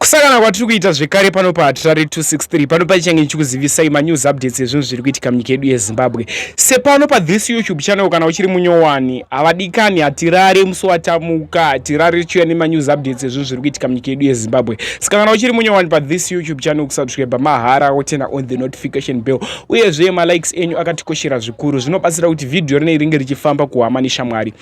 kusangana kwatiri kuita zvekare pano pahatirare 263 pano paichange ndichikuzivisai manews updates ezvinhu zviri kuitika munyika yedu yezimbabwe sepano pathis youtube channel kana uchiri munyowani havadikani hatirare musi watamuka hatirare tichiuya nemanews updates ezvinhu zviri kuitika munyika yedu yezimbabwe saka kana uchiri munyowani pathis youtube channel kusubscribe mahara wotena on the notification bell uyezve malikes enyu akatikoshera zvikuru zvinobatsira kuti vhidhiyo rinei ringe richifamba kuhama neshamwari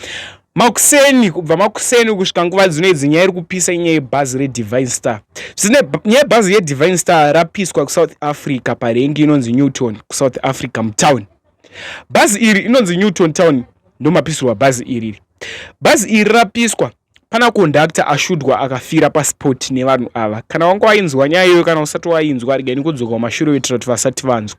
Makuseni kubva makuseni kusvika nguva dzino idzi nyaya iri kupisa inyaya yebhazi redivine star zvine nyaya yebhazi yedivine star rapiswa kusouth africa parengi inonzi newton kusouth africa mutown bhazi iri inonzi newton town ndomapisirwa bhazi iriri bhazi iri rapiswa pana kondakta ashudwa akafira paspoti nevanhu ava kana wanga wainzwa nyaya iyoyo kana usati wainzwa regai nikudzoka kumashure kuitira kuti vasati vanzwa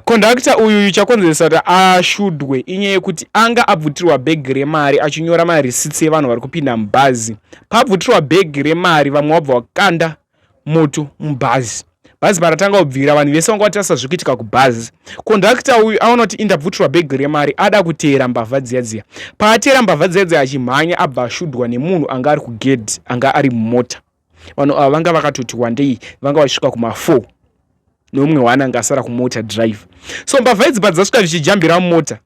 Kondakita uyuyu chakonzeresa kuti ashudwe inyaya yekuti anga abvutirwa bhegi remari achinyora marisitsi evanhu vari kupinda mubhazi. Paabvutirwa bhegi remari vamwe wabva wakanda moto mubhazi. Bhazi paratanga kubvira vanhu vese vanga vatarisa zviri kuitika kubhazi. Kondakita uyu aona kuti indabvutirwa bhegi remari ada kuteera mbavha dziya dziya. Paateera mbavha dziya dziya achimhanya abva ashudwa nemunhu anga ari kugedhi anga ari mumota. vanhu ava vanga vakatoti wandei vanga vachisvika kuma4 nomumwe wana anga asara kumota driver so mbavha idzi padzasvika zvichijambira mota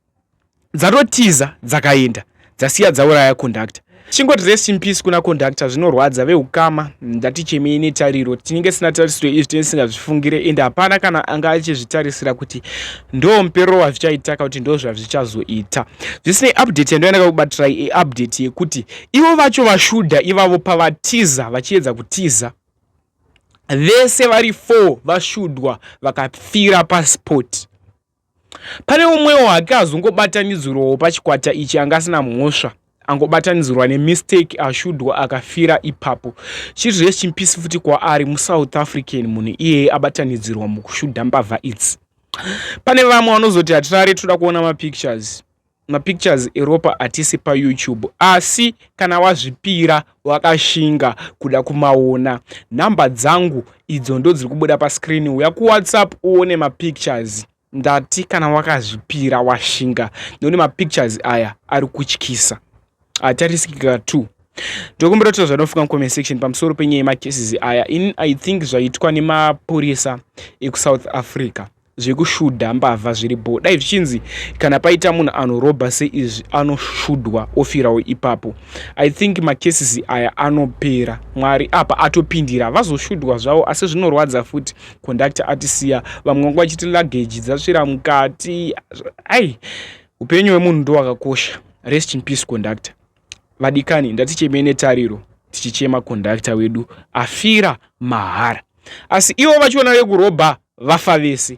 dzatotiza dzakaenda dzasiya dzauraya conductor chingoti rest in peace kuna conductor zvinorwadza veukama ndati chemei netariro tinenge sina tarisiro izvi tinenge tisingazvifungire ende hapana kana anga achizvitarisira kuti ndo muperero wazvichaita ka kuti ndo zvazvichazoita zvisinei update yandoendaka kubatirai eupdate yekuti Ivo vacho vaShudha ivavo pavatiza vachiedza kutiza vese vari four vaShudwa vakafira pasport. Pane umwewo hake azongobatanidzirwawo pachikwata ichi anga asina mhosva angobatanidzirwa nemistake ashudwa akafira ipapo chiri rest in peace futi kwaari musouth african munhu iyeye abatanidzirwa mukushudha mbavha idzi pane vamwe vanozoti hatirare toda kuona mapictures mapictures eropa atisi payoutube asi kana wazvipira wakashinga kuda kumaona nhamba dzangu idzo ndodziri kubuda pascreen uya kuwhatsapp uone mapictures ndati kana wakazvipira washinga nekuti mapictures aya ari kutyisa hatarisikika ah, two ndokumbira kutaura zvanofunga mucomment section pamusoro penyaya yemacases aya in i think zvaitwa nemapurisa ekusouth africa zvekushudha mbavha zviri bho dai zvichinzi kana paita munhu anorobha seizvi anoshudhwa ofirawo ipapo i think macases aya anopera mwari apa atopindira vazoshudhwa zvavo asi zvinorwadza futi conductor atisiya vamwe vanga vachiti luggage dzasvira mukati ai upenyu hwemunhu ndowakakosha rest in peace conductor vadikani ndatichemei netariro tichichema kondakita wedu afira mahara asi ivo vachiona vekurobha vafa vese